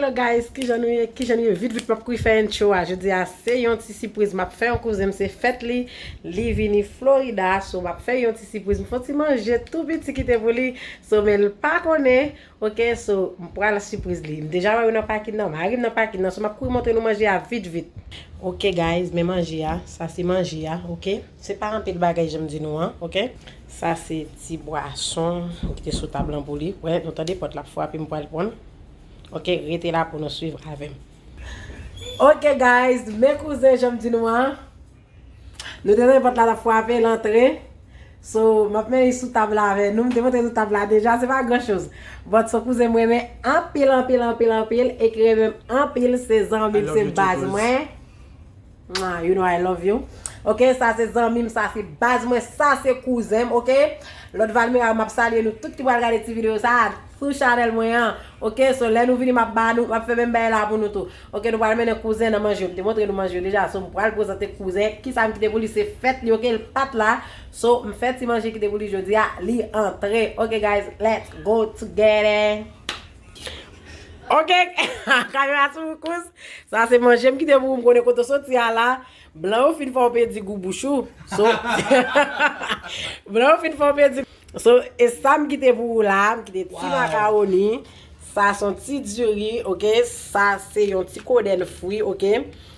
Hello guys kijan nou ye kijan nou ye vit vit map kouri fè intro a jodi a se yon ti sipriz map fè yon kouzen m se fèt li li vini Florida so map fè yon ti sipriz m fon ti manje tou piti kite pou li so men l pa konnen ok so m pral sipriz li m deja wè yo nan pakin nan mari m nan pakin nan so map kouri montre nou manje a vit vit ok guys men manje a sa se manje a ok se pa anpil bagay janm di nou an ok sa se ti bwason kite sou tab lan pou li wè nou tande pòt lap frape m pral prann Ok rete la pou nou swiv avèm. Ok guys men kouzen janm di nou an Nou te tande pòt la tap fwape l antre So map met li sou tab la avè nou m te montre nou tab la deja se pa gran choz But so kouzen m renmen anpil anpil anpil anpil e ki renmen m anpil se zanmi m se baz mwen. Mwah you know I love you ok sa se zanmim sa se baz mwen sa se kouzenm ok lòt valmera yo map salye nou tout ki pral gade ti video sa sou chanèl mwen an ok so lè nou vini map ba nou map fè menm bagay la pou nou tou ok nou pral mennen kouzen nan manje yo mte montre nou manje yo deja so mpral prezante kouzen kisam kite pou li se fèt li ok lpat la so mfè ti manje kite pou li jodia li antre ok guys let's go together. Ok, kamera sou ou kous. Sa se manje m kite pou ou m konnen kote w soti a la. Blan yo fin fè w pèdi gou bouch ou. So, blan yo fin fè w pèdi. So, e sa m kite pou ou la, m kite ti makaroni. Sa son ti diri, ok. Sa se yon ti kodenn fri, ok.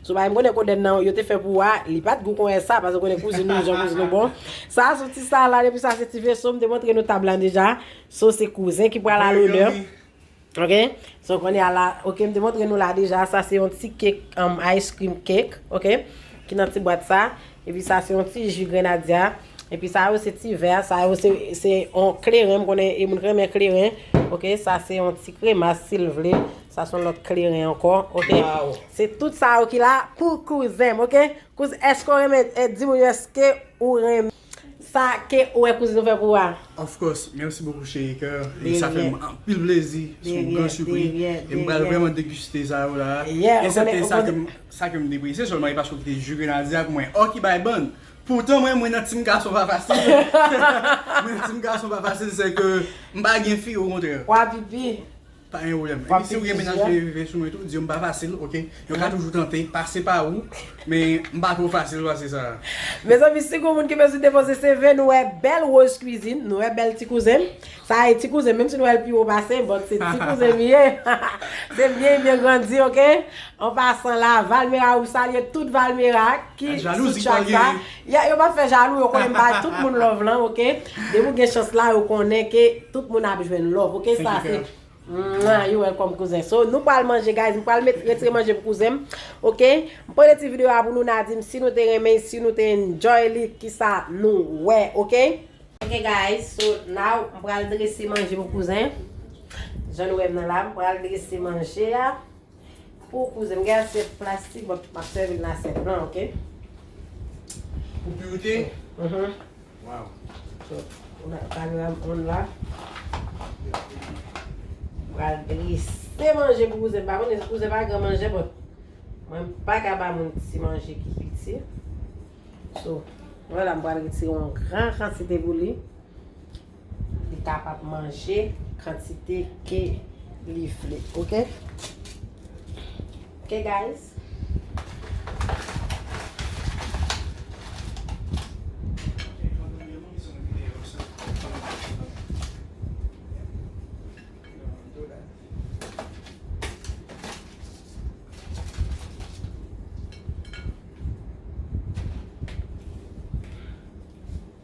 So, bay m konnen kodenn nan yo te fè pou ou a, li pa t gou konyen sa, pase w konnen kouzin nou, jan kouzin nou bon. Sa son ti salad, epi sa se ti veso, m te montre nou tab lan deja. So se kouzen ki pral a lonè. Ok so kounye a la ok m te montre nou la deja sa se yon ti kek ice cream kek ok ki nan ti bwat sa epi sa se yon ti ju grenadya epi sa yo se ti vè sa yo se yon kleren m konnen e moun renmen kleren ok sa se yon ti kremas sil vle sa son lòt kleren ankò ok se tout sa yo ki la pou kouzen m ok kouzen eske w renmen di moun yo eske ou renmen. Sa ke ou e kouzin ou fe pou a. Of course, merci beaucoup chérie coeur e sa fèm anpil plezi se yon gran supri e m pral vrèman deguste sa yo la esepte sa ke m sa ke m depresye sèlman e paske ou kite ju grenadye ak mwen ò ki bay bann poutan mwen mwen nan team gason pa fasil mwen nan team gason pa fasil se ke m pa gen fi okontrè. Pwa pipi. Pa gen pwoblèm. Epi si ou gen mennaj ki rive sou mwen tou, di yo m pa fasil ok. Yo ka toujou tante pase pa ou, men m pa twò fasil pase sa a. Mezanmi si gon moun ki bezwen depoze CV nou wè bèl Rose Cuisine, nou wè bèl ti kouzen m. Sa a e ti kouzen m, menm si nou wè l pi wo pase m, but se ti kouzen m li ye. Se m byen byen grandi ok. An pasan la, Valmera ou m salye tout Valmera ki sou chat sa. Ya yo pa fè jalou yo konnen m bay tout moun love lan ok depi ou gen chans la yo konnen ke tout moun ap jwenn love ok sa se Mwah you welcome kouzen so nou pral manje guys m pral met retire manje pou kouzen m ok m pote ti video a pou nou na di m si nou te renmen si nou te enjoy li kisa nou wè ok. Ok guys so now m pral drese manje pou kouzen jan nou wè m nan la m pral drese manje a. Pou kouze m gen asyèt plastik bon map sèvi nan asyèt blan ok. Pou piwite? Uhmm. Waw. So panoram 1 la. Pral drese manje pou kouzen m pa konnen si kouzen pa gran manjè but mwen m paka ba moun ti manje ki piti. So. Mwen la m pral retire yon gran kantite pou li. Li kapab manje kantite ke li vle. Ok. Ok guys.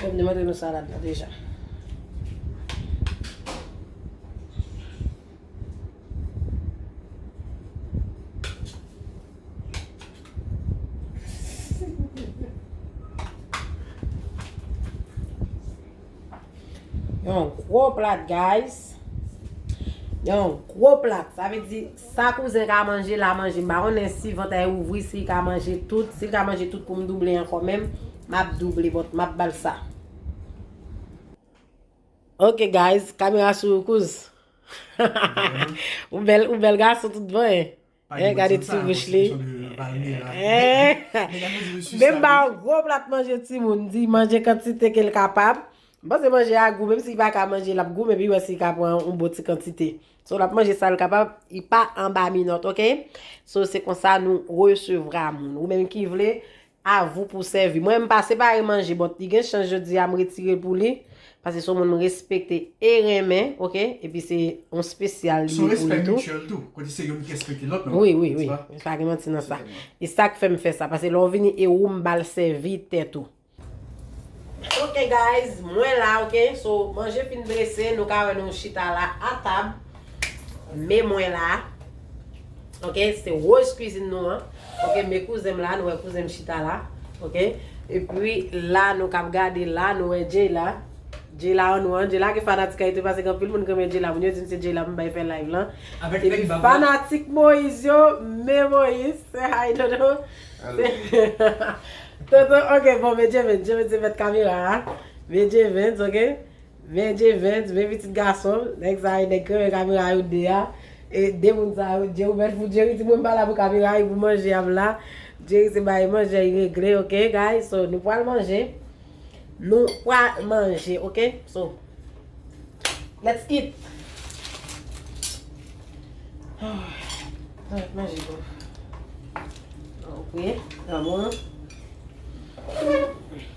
Mwen vle mande nou sa la dna deja. Yon gwo plat guys. Yon gwo plat. Sa ve di sa kouzen ka manje la manje. M pa konnen si vant a ouvri si ka manje tout. Si ka manje tout pou m double anko menm. M ap double but m ap bal sa. Ok guys. Kamera sou ou kouz. Ou bel gason tout bon e. Pa gen manje sa nan konstriksyon de Palmira. Nèg la fè di mesye sa. Menm ba yon gwo plat manje timoun, di manje kantite ke l kapab. M panse manje a gou menm si li pa ka manje l ap gou men pi wè si li ka pran yon bon ti kantite. So l ap manje sa l kapab, li pa anba minòt ok. So se konsa nou resevra moun. Ou menm ki vle A vous pou sèvi. Mwen m pa separe manje bon li gen chans jodi a m retire pou li pase son moun m respekte e renmen ok epi se yon spesyal li ye pou li tou. Son respè mutuel tou kote se youn ki respekte lòt nan. Wi wi wi pa gen manti nan sa e sak fèm fè sa pase lè w vini e ou m bal sèvi tèt ou. Ok guys mwen la ok so manje fin drese nou ka wè nou chita la a tab. Me mwen la. Ok, se rose cuisine nou an. Ok, me kouzen m la, nou wè kouzen m chita la. Ok, e pi la nou kap gade la, nou wè Jay la. Jay la an nou an, Jay la gen fanatik ayiti pase gen pil moun gen men Jay la. Moun yo di m se Jay la m bay fè live lan. E pi fanatik Moise yo, me Moise, se hay dodo. Dodo, ok, bon, me Jay Vens, Jay Vens se mèt kamera a. Me Jay Vens, ok. Men J-Vens, men pitit gason l, nèg sa yo nèg krenyen kamera yo 2 a, e 2 moun sa yo je ouvert pou Jerry di mwen m pa la pou kamera ui pou manje a m la, Jerry se bay manje a li regle ok guys so nou pwal manje nou pwa manje ok so let's eat Mwen manje bò. Mwen manje bò.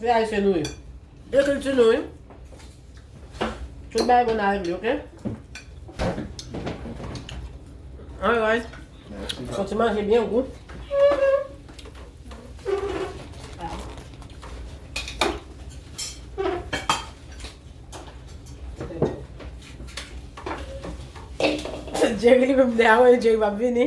Se ayisyen nou ye. Se kilti nou wi. Tout bagay bon avèk li ok. Alright. Fok ti manje byen gou. Jerry li menm de a wè Jerry pa vini.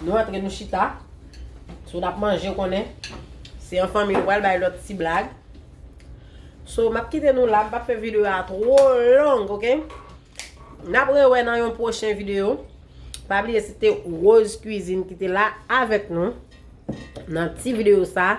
Nou antre nou chita. So nap manje ou konnen. Se an fanmi nou pral bay lòt ti blag. So map kite nou la. M pap fè video a tro long ok. Nap rewè nan yon pwochen video. Pa bliye se te Rose Cuisine ki te la avèk nou. Nan ti video sa.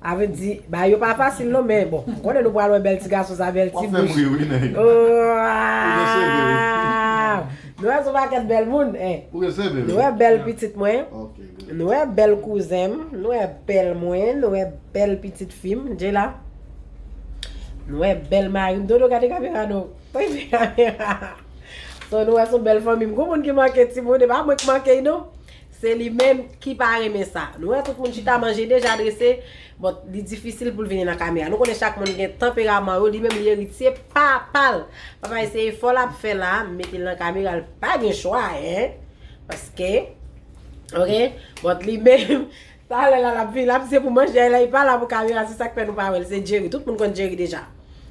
Avl di bagay yo pa fasil non men bon m konnen nou pral wè bèl ti gason sa bèl ti bouch. Wap fèm ri wi nèg. Oaaww. Nou wè son pakèt bèl moun eh. Ou gen CV wi. Nou wè bèl pitit mwen. Ok good. Nou wè bèl kouzen m, nou wè bèl mwen, nou wè bèl pitit fi m, Jayla. Nou wè bèl mari m, Dodo gade kamera non. Toy fè kamera. So nou wè son bèl fanmi m. Gon moun ki manke timoun e pa mwen ki manke y non. Se li menm ki pa renmen sa. Nou wè tout moun chita manje deja drese, bon li difisil pou l vini nan kamera. Nou konnen chak moun gen tanperaman yo, li menm li eritye pa pa l. Papa e se efò l ap fè la, mete l nan kamera l pa gen chwa hein. Paske ok, bon li menm. Talè la lap vini lap di se pou manje a la li pa la pou kamera se sak fè nou pa wèl se Jerry tout moun konn Jerry deja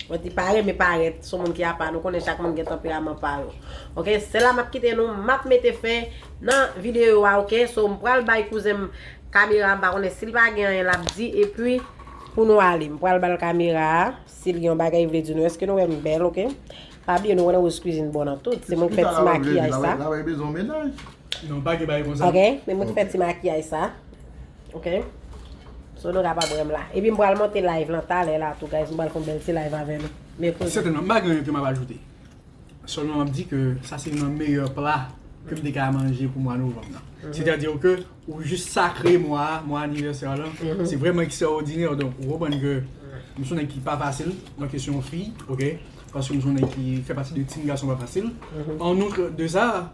mwen di pa renmen parèt son moun ki apa nou konnen chak moun gen tanperaman pa yo ok se la map kite nou map mete fen nan video a ok so m pral bay kouzen m kamera m pa konnen sil pa gen anyen lap di epi pou nou ale m pral bal kamera a sil gen yon bagay li vle di nou eske nou wèm bèl ok pa bliye nou konnen Rose Cuisine bon nan tout se mwen ki fè ti makiyaj sa. Non pa gen bagay konsa. Ok, men mwen te fè ti makiyaj sa. Ok. So nou kapab wè m la. Epi m pral monte live lan talè la tou guys. M pral fè yon bèl ti live avè nou. Mèkredi. Sètènman, m pa gen anyen ke m ap ajoute. Sèlman m ap di ke sa se youn nan meyè pla ke m te ka manje pou mwa novanm nan. Sètadi ke ou jis sakre mwa a, mwa anivèsè w lan. Se vrèman ekstraòdinè. Donk, ou konprann ke m se yon nèg ki pa fasil nan kesyon fi. Ok. Paske m se yon nèg ki fè pati de team gason pa fasil. An outre de sa.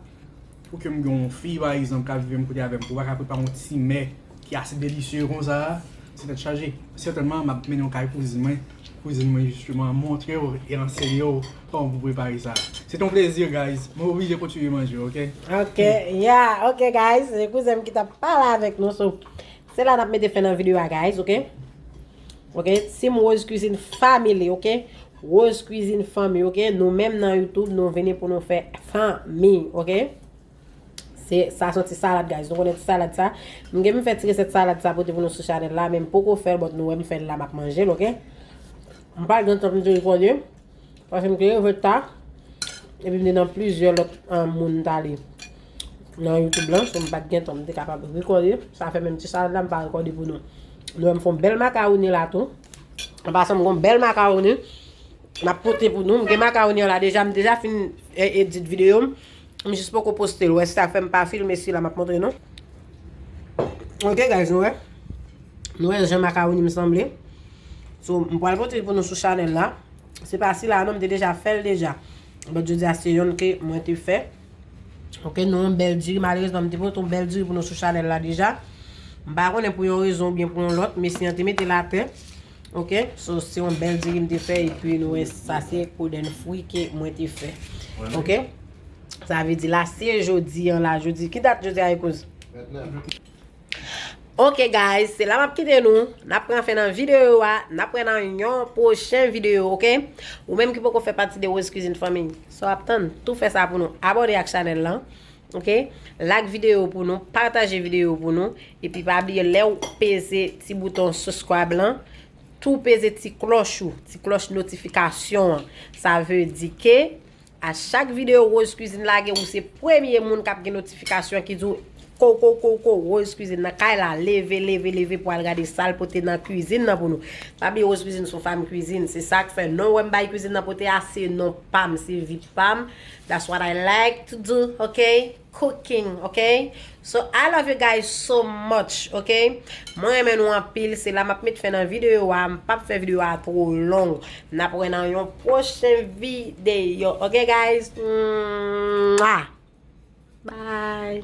Pou ke m gen yon fi pa egzanp k ap viv menm kote avè m, pou l pa ka prepare yon ti mè ki ase delisye konsa a, se tèt chaje. Sètènman, m ap mennen w kay kouzin mwen, kouzin mwen jisteman montre w e anseye w kòman pou prepare sa. Se te yon plezi guys, mwen oblije kontinye manje ok. Ok yeah ok guys, se kouzen m ki t ap pale avèk nou sou Se la nap mete fen nan video a guys ok ok team rose cuisine family ok rose cuisine fanmi ok nou menm nan youtube nou vini pou nou fè fanmi ok se sa son ti salad guys nou konnen ti salad sa m gen m fè ti resèt salad sa pote pou nou sou chanel la men m poko fèl bòt nou wè m fèl la map manjel ok m pa gen tan pou m di l konye Paske m te leve ta, epi m te nan plizyè lòt moun ta li nan YouTube lan, m pat gen tan m te kapab rekòde, sa fè menm ti salad la m pa rekòde pou nou. Nou wè m fon bèl makawoni la tou. An pasan m gon bèl makawoni, m ap pote pou nou. M gen makawoni an la deja, m deja fin edit videyo m. M jis poko postel wè sa fèm pa filme sila map montre nou Ok guys nou wè Nou wè jan makawoni m sanble So m pwal pote pou nou sou chanèl la Se pa sila non m te deja fèl deja But jodi a se yonn ke mwen te fè Ok nou yon bèl diri malerezman m te pote yon bèl diri pou nou sou chanèl la deja M pa konnen pou yon rezon oubyen pou yon lòt mesye an te metel atè Ok so se yon bèl diri m te fè epi nou wè sa se kodenn fwi ke mwen te fè ok sa vle di la se jodi an la jodi ki dat jodi a e kouz 29 ok guys se la m ap kite nou n ap pran fen nan videyo a n ap pran nan yon pwochen videyo ok ou menm ki poko fè pati de Rose Cuisine fanmi sa w ap tann tou fè sa pou nou abòne ak chanèl lan Ok Like video pou nou Pataje video pou nou Epi pa bliye lèw peze ti bouton subscribe lan Tou peze ti kloch ou Ti kloch notifikasyon an Sa ve di ke A chak video Rose Cuisine lage ou se premye moun kap gen notifikasyon ki diw Kou kou kou kou Rose Cuisine nan kay la Leve leve leve pou al gade sal pote nan cuisine nan pou nou Pa bliye Rose Cuisine son fanm cuisine Se sak fè non wèm bay cuisine nan pote a se non pam se vi pam That's what I like to do ok cooking ok so I love you guys so much ok mwen renmen nou anpil se la map met fen nan video a m pap fè video a two long nap wè nan yon pwochen video ok guys mwah bye.